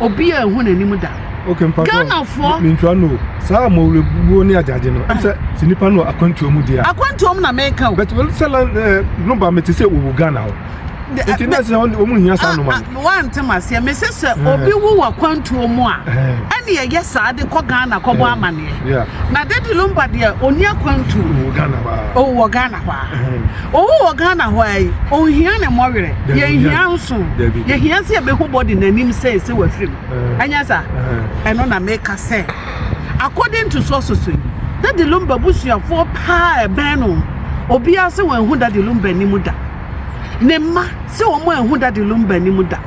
obi a ehu n'anim da. Okay, mpa Ghana fo. Mentwa no. Saa mɔwrebuo ne agyagye no. Ɛsɛ ah. sɛ nipa no akwantuo mu deɛ. Akwantuo mu na meka o. Bɛtɛ wɔn sɛ lan ɛɛ eh, no ba mete sɛ wɔwɔ Ghana hɔ. Nti na sɛ wɔn hia saa noma. Ah, ah, Wante ma seɛ mese sɛ eh. obi wu wɔ akwantuo mu a eh. ɛne ɛyɛ saa de kɔ Ghana kɔbɔ amaneɛ. Na Daddy Lumba deɛ ɔni akwantuo. Ɔwɔ Ghana hɔ a. Ɔwɔ Ghana hɔ a. Owu wɔ Ghana hɔ ara yi, onhia ne mmɔwerɛ, yɛnhia nso, yɛhia sɛ yɛbɛhu body no anim sɛ sɛ wafiri mu, ɛnyɛ saa? Ɛno na meka sɛ, according to sources yi, Daddy Lumba abusuafoɔ paa a ɛbɛn no, obiara sɛ wanhu Daddy Lumba anim da. Ne mma sɛ wɔn anhu Daddy Lumba anim da.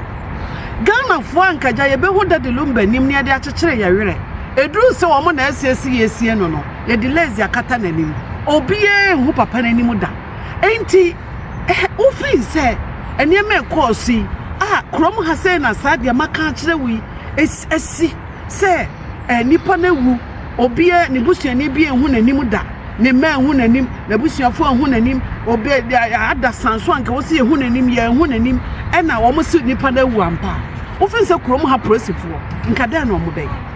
Ghanafoɔ ankagya yɛbɛhu Daddy Lumba anim na yɛde akyekyere yɛn werɛ. Ɛduru sɛ wɔn na asiesie yɛasie no no, yɛde lace akata n'anim obiara nhu papa no anim da enti eh, wofii sɛ nneɛma ɛkɔɔ so yi a kurom ha sɛ na saa deɛ maka akyerɛ wo yi asi sɛ eh, nipa no awu obiara ne busuani bi nhu n'anim da ne mma nhu n'anim n'abusuafoɔ nhu n'anim obi ada sanso anka wɔ sɛ yɛhu n'anim yɛnhu n'anim ɛna wɔn si nipa no awu ampa wofii sɛ kurom ha polisifoɔ nka dɛn na wɔn bɛyɛ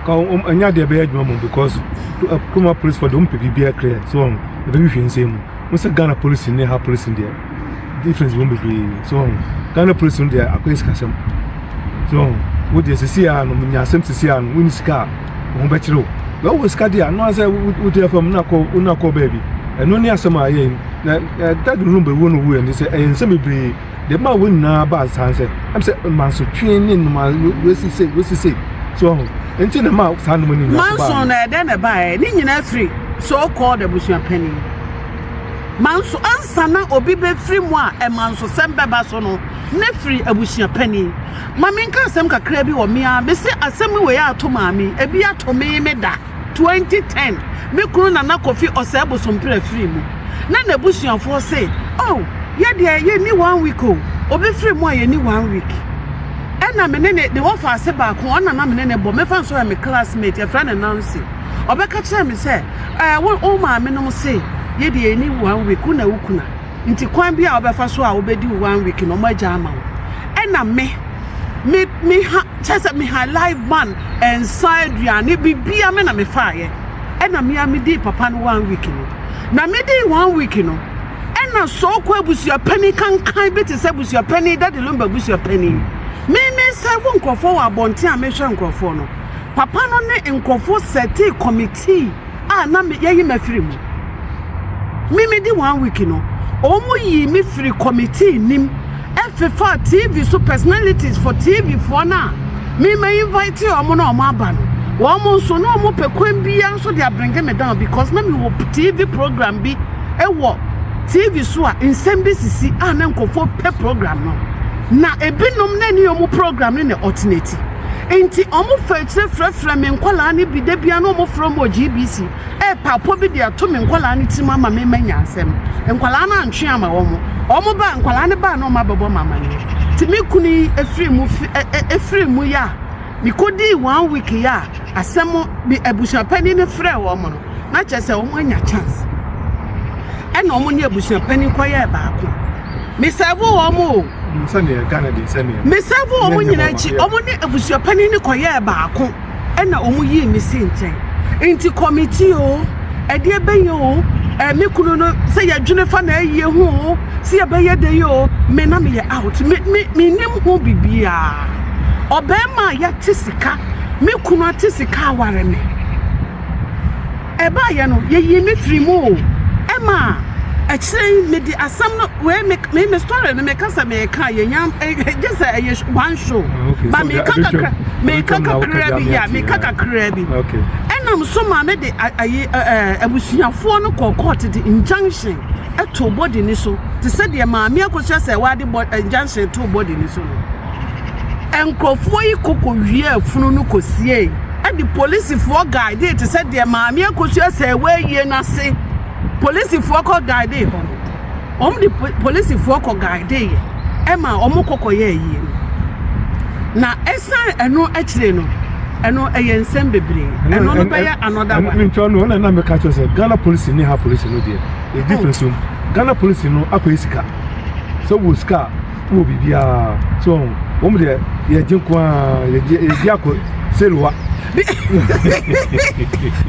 ka wɔn ɛnyɛ adeɛ bɛyɛ adwuma mu because kuruma polisi fɔ deɛ wɔn pɛ biribiara clear so wɔn ɛbɛ bi hwɛ nsɛm mu wɔn sɛ ghana polisi ne ha polisi deɛ difference wɔn bebree so wɔn ghana polisi no deɛ akɔyɛ sikasɛm so wɔn wo deɛ sisi a no nya asɛm sisi a no wɔn sika a wɔn bɛkyerɛ o bɛn wɔ sika deɛ ano asɛ wo deɛ fam na kɔ wo na kɔ baabi ɛno ne asɛm a yɛ na ɛda de no bɛ wo no wo yɛ ne sɛ ɛyɛ nsɛm bebree. deɛ ɛmaa wɔn nyinaa baa saa sɛ ɛm sɛ mansotwe ne nnoma wesi se wesi se so ɔho nti na ɛmaa saa nnoma no nyinaa baa manso na ɛdɛn na ɛbaeɛ ne nyinaa firi so called abusua panin manso ansa na obi bɛfiri mu a ɛmanso sɛm bɛba so no ne firi abusua panin ma menka asɛm kakra bi wɔ me a mese asɛm wei ato maame ebi ato me me da 2010, me kunu Nana Kofi Osei Bosompira firii mu, na n'abusuafoɔ se, Oh, yɛ deɛ yɛnni one week o, obi firi mu a yɛnni one week. Ɛna me ne ne, ne wɔfa ase baako, ɔna na me ne ne bɔ, mɛfa nso yɛ me classmate, yɛfrɛ no Nancy. Ɔbɛka kyerɛɛ me sɛ, Eh, wo, wo maame nom se, yɛ deɛ yɛnni one week, wo na wo kuna. Nti kwan bi a wobɛfa so a wobɛdi wo one week no ɔmo agya ama wo ɛna me me me ha kyɛ sɛ me ha live man nsa aduane bibia me na me faayɛ ɛna me a me di papa no one week no na me di one week no ɛna sɔɔkɔ abusuapani kankan bi te sɛ abusuapani dade lomba abusuapani me me sɛfo nkurɔfoɔ wɔ abɔnten a mehwɛ nkurɔfoɔ no papa no ne nkurɔfoɔ sɛte kɔmitii a na me yɛyi me afiri mu me me di one week no wɔn yi me firi committee nim ɛfefa tv so personalities for tv foɔ no a me ma invite wɔn na wɔn aba no wɔn nso na wɔn pɛ kwan biara nso de abirenge me down because na me wɔ tv program bi ɛwɔ tv so a nsɛm bi sisi a na nkɔfoɔ pɛ program no na ebinom na ne wɔn program no na ɔtenati. Enti wɔfa akyire frɛfrɛ me nkwadaa no bi da biara na wɔfrɛ wɔn wɔ GBC ɛrepa apɔ bi de ato me nkwadaa no tirim ama me ma nya asɛm. Nkwadaa no antwe ama wɔn. Wɔn baa nkwadaa no baa na wɔn abɛbɔ me amaneɛ. Nti me kunu yi efiri mu fi ɛ ɛ efiri mu yɛ a mekɔdii one week yɛ a asɛm bi abusuapanin no frɛ wɔn no na kyerɛ sɛ wɔn anya chance ɛna wɔn ne abusuapanin kɔyɛɛ baako. me serve wɔn o me serve wɔn nyinaa akyi wɔn ne abusua panyin ne kɔyɛɛ baako ɛna wɔn yii me si nkyɛn nti kɔmiti o ɛdeɛ bɛyɛ o ɛmi kunu no sɛ yɛdwene fa na ayie ho o sɛ yɛbɛyɛ de yi o me na meyɛ out me me me nim ho bibiara ɔbɛrima a yɛte sika me kunu ate sika aware me Ɛbaeɛ no, yɛyii me firii mu o. Ɛma akyire yi mede asɛm no wei me me me story no meka sɛ meka yɛnya gye sɛ ɛyɛ one show ba meka kakra meka kakra bi yɛ meka kakra bi ɛnam so ma ne de ayi abusuafoɔ no kɔ court de injunction ɛto body ne so te sɛ deɛ maame akosua sɛ wade injunction to body ne so no. Nkurɔfoɔ yi ko kɔwiaa funu no kɔsiee de polisifoɔ guidee te sɛ deɛ Maame Akosua sɛɛ w'ayie no ase. Polisifoɔ kɔ guidee hɔ no, wɔn de polisifoɔ kɔ guideeɛ ɛma wɔn kɔ kɔyɛ ayie no. Na ɛsan ɛno akyire no, ɛno ɛyɛ nsɛm bebree. Ɛno no bɛyɛ another one. Mentwa no, ɛna na meka kyerɛ sɛ Ghana polisi ne ha polisi no deɛ, ɛdi fɛ so. Ghana polisi no akɔyɛ sika. Sɛ wɔ sika a, wɔ biribiara so ɔho wɔn deɛ yɛgye nko a yɛgye yɛgye akɔ seluwa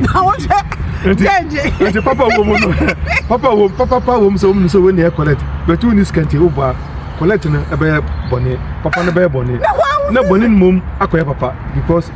na wɔn sɛ yɛgye nti papa wɔ mu no papa wɔ papa pa wɔ mu sɛ wɔn sɛ wɔn ni yɛ kɔlɛt bɛtu wɔn ni sikɛnti o ba kɔlɛt no ɛbɛyɛ bɔnɛ papa no bɛyɛ bɔnɛ na bɔnɛ no mom akɔyɛ papa because.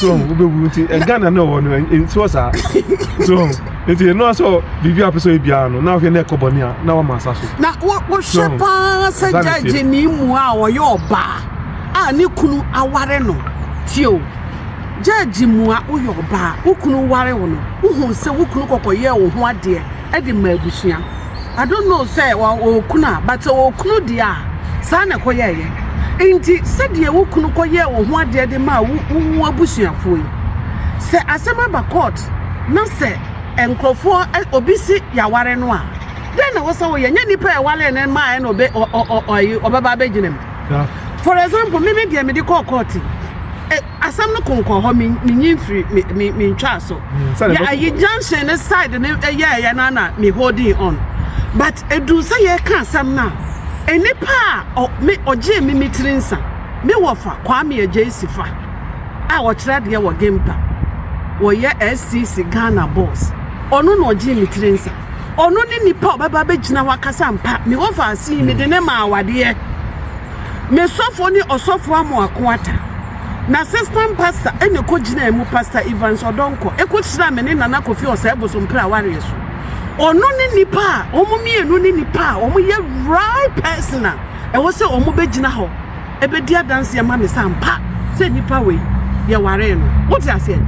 so wobɛwu nti ghana na ɔwɔ no nsuo saa so nti ɛno sɛ biribi a pɛsɛ biara no na wohwɛ na ɛkɔ bɔne a na wama asa so na wohwɛ paa sɛ gyagye ne mu a ɔyɛ ɔbaa a ne kunu aware no tie o gyagye mu a woyɛ ɔbaa wo kunu ware wo no wohu sɛ wo kunu kɔkɔyɛɛ wo ho adeɛ de ma abusua I don't know sɛ ɔwɔ okunu a but sɛ ɔwɔ okunu deɛ a saa na ɛkɔyɛɛ yɛ nti sɛdeɛ wo kunu kɔyɛɛ wo ho adeɛ de maa wo wo abusuafoɔ yi sɛ asɛm aba court na sɛ nkurɔfoɔ ɛ- obi si yɛaware no a dɛn na wɔsɛ woyɛ nyɛ nipa a ɛware no maa ɛna ɔbɛ ɔ- ɔ- ɔ- ɔyi ɔbɛba abɛgyina mu for example me me deɛ mede kɔɔ court yi asɛm no konkɔ hɔ menyi mfiri mentwaa so yɛ ayi junction ne side ne yɛɛyɛ no ana me holding on but ɛduu sɛ yɛka asɛm no a nnipa a ɔgyee me me tiri nsa me wɔfa Kwame Agyeisi fa a ɔkyerɛ adeɛ wɔ Gempa wɔyɛ SCC Ghana boss ɔno na ɔgyee me tiri nsa ɔno ne nipa ɔbɛba bɛgyina hɔ akasa mpa me wɔfa ase yi mede ne ma awadeɛ ne sɔfo ne ɔsɔfo Amoako Atta, n'assistant pastor na ɛkɔgyinaa mu, Pastor Evans Ɔdɔnkɔ, ɛkɔhyiraa me ne Nana Kofi Osei Bosompere awareɛ so. Ɔno ne nipa a, wɔn mmienu ne nipa a wɔyɛ right person a ɛwɔ sɛ wɔbɛgyina hɔ ɛbɛdi adanse ama me sɛ ampa sɛ nipa wei yɛwaree no. Wote aseɛ?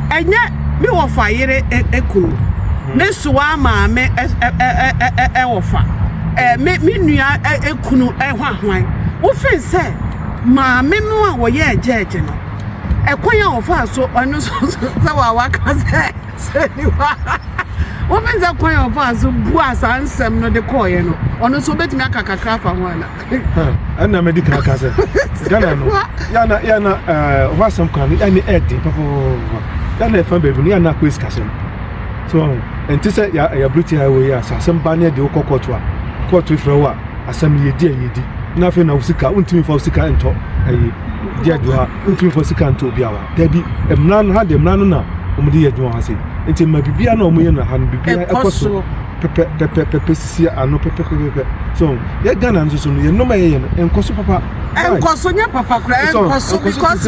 Ɛnyɛ me wɔfa yere ɛkunu, me soa maame ɛwɔfa, me nua ɛkunu. kunu hwahwan. Wofii sɛ maame no a wɔyɛɛ gyɛɛgye no, ɛkwan a ɔfaa so ɔno nso sɛ waka sɛ sɛ nipa wofii sɛ kwan a ɔfaa so bua saa nsɛm no de kɔɔeɛ no ɔno nso wobɛtumi aka kakra afa ho ana ɛna mɛdi kan ka sɛ ghana no yɛna yɛna hɔ asɛm kwan no ɛne ɛden pɔpɔpɔpɔ yɛna ɛfa baabi no yɛna akɔ ɛsikasɛm so wahu ɛnte sɛ yɛ ɛyɛ aburo tiaa wɔ yi a sɛ asɛm ba ne ɛde wokɔ kɔɔto a kɔɔto efrɛ wo a asɛm yɛ di a yɛ di na afei na wosika wontumi fa wosika ntɔ ɛyi di adwuma ha wontumi fa wosika ntɔ obi awa daabi mmara no ha de mmara no na wɔn de yɛ adwuma ha se nti mma biribiara na wɔn yɛ na ha no biribiara ɛkɔ so pɛpɛ pɛpɛ pɛpɛ sisi ano pɛpɛ pɛpɛ pɛpɛ so yɛ ghana nso so no yɛ nnɔma yɛ yɛ no nkɔ so papa nkɔ so nyɛ papa kura nkɔ so because.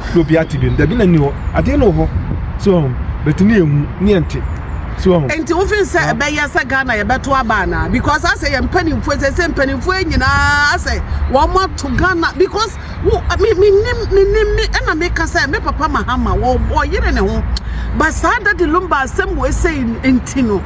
na obi ate bi no dabi na ni hɔ adeɛ no wɔ hɔ so ɔho bɛte ne yɛhu ne yɛnte so ɔho. Nti wofin sɛ ɛbɛyɛ sɛ Ghana yɛbɛto aba anaa because asɛ yɛ mpanimfoɔ sɛ sɛ mpanimfoɔ nyinaa asɛ wɔn ato Ghana because wo me me nim me nim me ɛna me ka sɛ me papa Mahama wɔ wɔyere ne ho ba saa dadi lumba asɛm wɔ esɛ nti no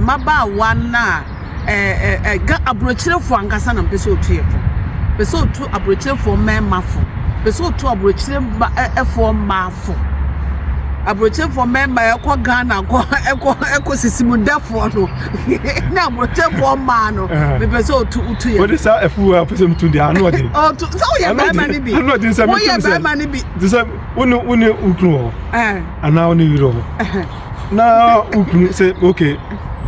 mmabaawa no a aburokyerefoɔ ankasa na ɔpɛ sɛ ɔtu yɛn fo. Ɔpɛ sɛ ɔtu aburokyerefoɔ mmarima fo. Ɔpɛ sɛ ɔtu aburokyerefoɔ mmaa fo. Aburokyerefoɔ mmarima a ɛkɔ Ghana kɔ ɛkɔ ɛkɔ sisi mu dafoɔ no ne aburokyerefoɔ mmaa no. Mepɛ sɛ ɔtu ɔtu yɛn. Wɔde saa afuo a ɔpɛ sɛ ɔtu deɛ ano ɔden. Ɔtu sɛ woyɛ barima no bi. Ano ɔden sɛ mɛtumi sɛ. Woyɛ barima no bi. Te sɛ wo ne wo ne wo kunu wɔ hɔ. Anaa wo ne yere wɔ hɔ. na wokunu sɛ okay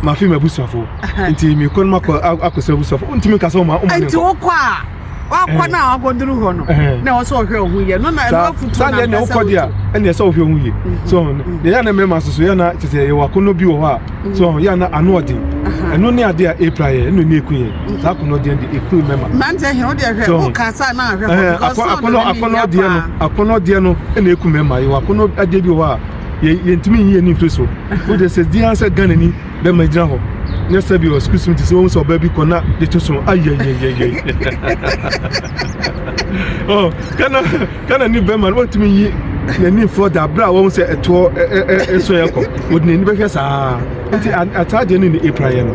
mafe m'abusuafo nti mekɔ no makɔ akɔsɛ abusuafo wontumi nka sɛ woma woma nti wokɔ a wakɔ no a wakɔduru hɔ no na ɛwɔ sɛ ɔhwɛ ɔho yɛ no na ɛno afutuo na ɛnɛ wokɔ deɛ a ɛnɛ sɛ wohwɛ ɔho yɛ so deɛ yɛ na mmarima soso yɛ na kyɛ sɛ yɛwɔ akɔnnɔ bi wɔ hɔ a so yɛ na ano ɔden ɛno ne adeɛ a ɛpira yɛ ɛno ne ɛku yɛ saa akɔnnɔ deɛ de ɛku mmarima mmerante hɛ wodeɛ hwɛ woka saa na ahwɛ hɔ akɔnnɔ deɛ no akɔnnɔ deɛ no ɛna ɛku mmarima yɛwɔ akɔnnɔ adeɛ bi wɔ hɔ a yɛ yɛntumi nyi ani mfiri so wogye sɛ di ara sɛ ghanani bɛma gyina hɔ nyɛ sɛ bi wɔ sukuu sum ti sɛ wɔn sɛ ɔbaa bi kɔ na de to so ayɛyɛyɛyɛ oh ghana ghana ni bɛma no wɔntumi nyi n'ani mfiri da abira a wɔn sɛ ɛtoɔ ɛso yɛ kɔ wɔde n'ani bɛhwɛ saa nti ataa deɛ no ne apira yɛ no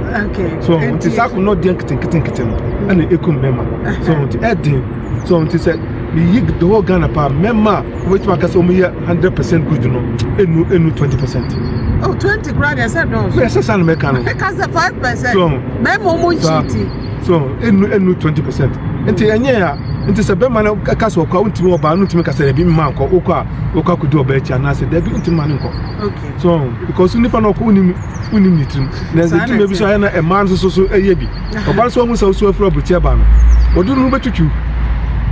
so nti saa akonnɔ deɛ nketenkete no ɛna ekum bɛma so nti ɛden. So wɔn ti sɛ meyi the whole Ghana paa mɛma a wɔbɛtumi aka sɛ wɔn yɛ hundred percent good no enu enu twenty percent. Oh twenty kura deɛ sɛ dɔɔso. Bɛyɛ sɛ sanni mɛka no. Ɛka sɛ five percent. So mɛma wɔn nkyi ti. So enu enu twenty percent. Nti mm. ɛnyɛ ya nti sɛ bɛma no ɛka sɛ ɔkɔ a wontumi ɔbaa no ntumi kasa dɛbi mma nkɔ wokɔ a wokɔ akɔdi ɔbaa akyi anaasɛ dɛbi ntumi ma no nkɔ so because nipa no ɔkɔ wonim wonim ne tirim na ɛdwuma bi so ayɛ na ɛmaa no soso so ɛyɛ bi ɔba nso ɔhu sɛ wosu afiri aburukyɛ ɛba no ɔde ne ho bɛtwitwi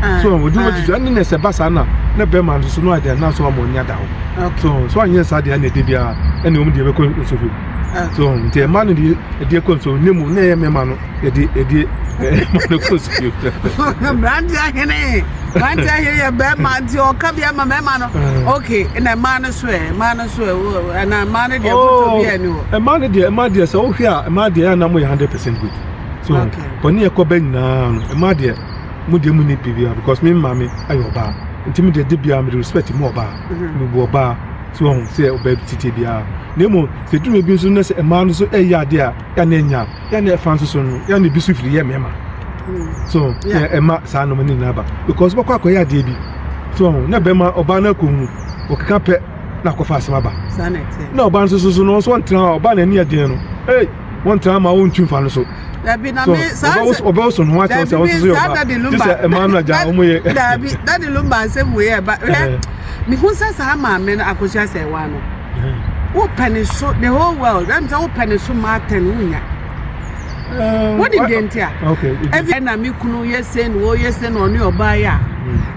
ah, so ɔde ne ho bɛtwitwi ah. ɛne na ɛsɛ ba saa na na bɛrima nso so no adeɛ na nso ama ɔnya da hɔ so so anyɛ saa deɛ ɛna ɛde biara ɛna wɔn deɛ bɛkɔ nso fi so nti ɛma no deɛ ɛdeɛ kɔ nso ne mu na ɛyɛ mmarima no ɛde ɛdeɛ ɛma no kɔ nso fi. mmerante ahene mmerante ahene yɛ bɛrima nti ɔka bi ama mmarima no ok na mmaa no so ɛ mmaa no so ɛ wo anaa mmaa no deɛ botɔ oh, bi a ɛni hɔ. mmaa no deɛ mmaa deɛ sɛ wohwɛ a mmaa deɛ ɛna mo yɛ hundred percent good so bɔne ɛkɔ bɛ nyinaa no mmaa deɛ mo deɛ mo ni biribiara because me maame ayɛ ɔbaa nti me deɛ de biara me de respect mu ɔbaa mhm. me bu ɔbaa so ɔho sɛ ɔbaa bi titi biara na emu sɛ duru ebi nso na sɛ mmaa no nso ɛyɛ adeɛ a yɛn anya yɛn ɛfa nso so no yɛn ebi so firi yɛ mmarima mm. so ɛma saa nnoma ne nyinaa ba because bɛkɔ akɔyɛ adeɛ bi so ɔho na bɛma ɔbaa no akɔ mu ɔkeka pɛ na akɔfa asɛm aba na ɔba nso so no nso ɔntra hɔ ɔba n'ani ɛdeɛ no ee wɔntra ma wɔntu nfa no so so ɔbɛwo so no ho akyɛw sɛ wɔnso so yɛ ɔba te sɛ ɛmaa no agya wɔn yɛ daabi dade lumba asɛm wei ɛba hwɛ mehu sɛ saa maame no akosua sɛ ɛwa no wopɛ ne so the whole world ɛm sɛ wopɛ ne so ma atɛn wonya wọ́n di deɛ nti a ɛfi ɛna mi kunu yɛ se na wɔyɛ se na ɔne ɔbaa yɛ a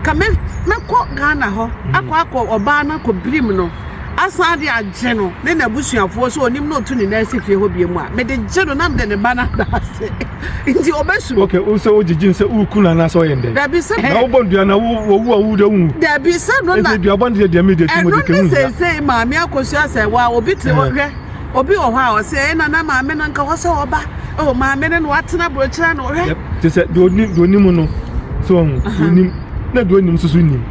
ka mɛ mɛkɔ ghana hɔ akɔ akɔ ɔbaa no akɔ birim no asan de agye no ne na abusuafoɔ so onim na otu ne nan si fie hɔ bie mu a mede gye no na mede ne ba no ada ase nti ɔbɛsuro. ok o sɛ o gyigye nsɛ o kun na n'asɛ ɔyɛ ndɛ. dabi sɛ. na o bɔ ndua na wo wo wu a wo de wu. dabi sɛ no na. nti dua bɔ ne deɛ deɛ mi de ti mo de kɛ wu nda. ɛno ne sɛ sɛ maame akosua sɛ wa obi te hɔ hwɛ. Obi wɔ hɔ a ɔsɛ ɛyɛ na na maame no nka hɔ sɛ ɔba ɛwɔ oh, maame no na watena burokyerɛ na ɔhwɛ. te sɛ deɛ onim deɛ onim no sɛ ɔho deɛ onim na deɛ onim nso so nim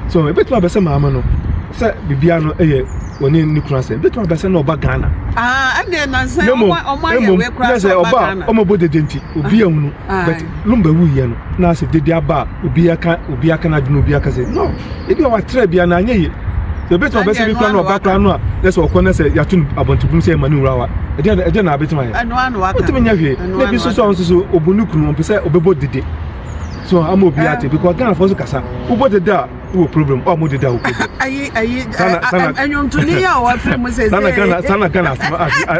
sɛ ɔho ebetumi abɛsɛ maame no sɛ bibia no yɛ wɔne ne kunu asɛ ebetumi abɛsɛ na ɔba ghana. aa ɛnna nansan ɔmo ɔmo ayɛ wɛ kura sɛ ɔba ghana. ɔmo bɔ dede nti obi ehunu. but lomba wu yɛ no na asɛ dede aba a obi aka obi aka na adwene obi aka sɛ no ebi a watrɛ bia na anyɛ yɛ sɛ ebi tuma bɛsɛ bi kura na ɔba kura no a na sɛ ɔkɔ na sɛ yato no abɔntebum sɛ ɛma ne wura wa ɛdeɛ ɛdeɛ na abɛtuma yɛ ɛno ano aka ɔtumi nyɛ hwee na ebi soso ɔno soso obu ne kunu ɔmpɛ sɛ ɔbɛbɔ dede so ama obi ate because ghana fɔ so kasa wobɔ dede a wɔ problem ɔmo de da wɔ problem. ayi ayi ɛnyɔntoni yi a wafiri mu sese. sanna gana sanna gana asɛm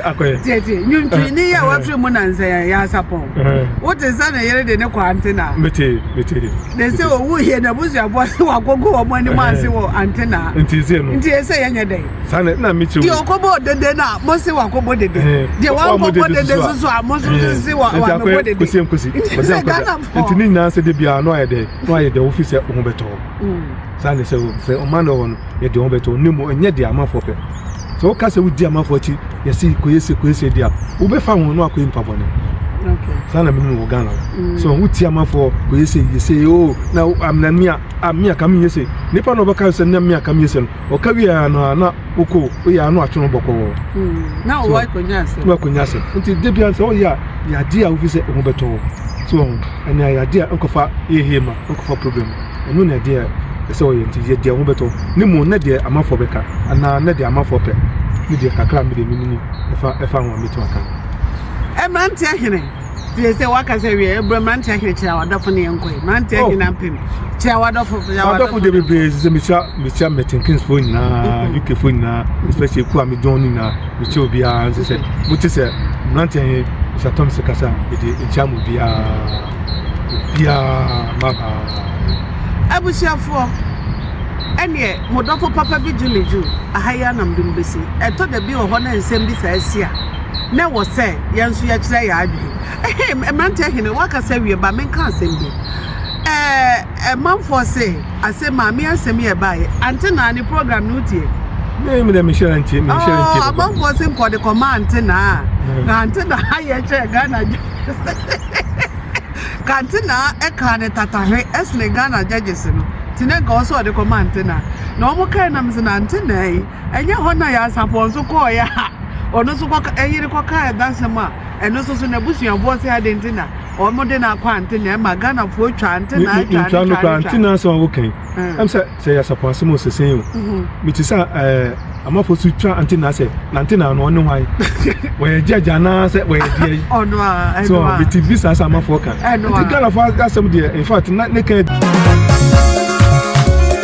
akɔyɛ. tiɛtiɛ nyɔntoni yi a wafiri mu na nsɛn yɛ asapɔn. wote sɛ ne yere de ne kɔ antena. mete mete. de sɛ owu yɛ na busuafoɔ se wakogo wɔn anim ase wɔ antena. nti ese no nti ese yɛ nyɛ dɛn. sanni na mi ti wo. deɛ ɔkɔbɔ dede na mo se wakɔbɔ dede. deɛ wankɔbɔ dede soso a mo soso se wakɔbɔ dede. nti akɔyɛ kosi nkosi. nti sɛ ghana. Nti ne nyinaa sɛ da biara na wayɛ dɛ na wayɛ dɛ wofi sɛ wo ho bɛtɔ hɔ saa ne sɛ sɛ ɔma no hɔ no yɛ deɛ ho bɛtɔ hɔ na mmom ɛnyɛ deɛ amanfoɔ pɛ sɛ woka sɛ wodi amanfoɔ akyi yɛse kɔyɛ se kɔyɛ se di a wobɛfa ho na wakɔyɛ nipa bɔne saa na menim wɔ Ghana mm. so wotie amanfoɔ kɔyɛ se yɛ se o na amena mea amea ka menyɛ se nipa na ɔbɛka sɛ na mea ka menyɛ se no ɔka wie ara no a na wokɔ woyɛ ano atwe ho bɔkɔɔ na ɔwɔ akonnwa asɛm na akonnwa asɛm nti de bia sɛ woyɛ a yadeɛ a wofi sɛ ɔho bɛtɔ wo so ɔho ɛne a yadeɛ a nkɔfa yɛhie ma nkɔfa problem ɛno ne adeɛ a ɛsɛ ɔyɛ nti yɛ deɛ ɔho bɛtɔ ne mu ne deɛ amanfoɔ bɛka anaa ne deɛ amanfoɔ pɛ ne deɛ kakra mede menim ɛfa ɛfa ho a mɛtumi aka no ɛmmeranteɛ hene Tie sɛ waka sɛ wiɛ ɛbrɛ mmerante ahene kyerɛ wadɔfo ne yɛn nkɔe mmerante oh. ahene apem kyerɛ wadɔfo wadɔfo de bebree sɛ mehyia mehyia mɛtenkinsfoɔ nyinaa mm. ukfoɔ nyinaa especially ku a medɔn no nyinaa mekyɛ obiara nsɛ sɛ mote sɛ mmerante ahene hyɛtɔm sɛ kasa mede nkyia mu obiara obiara mabaa abusuafoɔ ɛneɛ modɔfo papa bi gye me dwo aha yi anam de mbɛsi ɛtɔ da bi wɔ hɔ na nsɛm bi saa si a na ɛwɔ sɛ yɛn nso yɛkyerɛ yɛn adwene. Ɛhɛn, mmeranteɛ hene, woakasa wie, ma menka asɛm bi. Ɛɛ, manfoɔ se, asɛm a, me asɛm yɛ baeɛ. Ante naa ne program no wotie? Me me dɛ me hyɛ ntie me hyɛ ntie. Oh, amanfoɔ se nkɔ de kɔma ante naa. Mm. Na ante naa yɛ kyerɛ Ghana ka ante naa ɛka ne tatahwe ɛsene Ghana judges no. Ti na nka ɔsɛ ɔde kɔma ante naa. Na wɔn kae nam se na ante naa yi Ɛnyɛ hɔ na Yansapɔn nso kɔeɛ a ɔno nso kɔka yere kɔka ɛdasɛm a ɛno nso so n'abusuafoɔ sɛ ade nti na wɔn de no akɔ ante na ɛma Ghanafoɔ twa ante na atwa ne twa ne twa. Ante na asɛm a wokan ɛm sɛ sɛ Yansapɔn asɛm o sese o mete sɛ ɛɛ amafoɔ so twa ante na sɛ na ante na ano ɔne hwan wɔyɛ judge anaa sɛ wɔyɛ deɛ yi ɔno a ɛno a so mete bi saa sɛ amafoɔ ka ɛno a nti Ghanafoɔ asɛm deɛ in fact na ne ka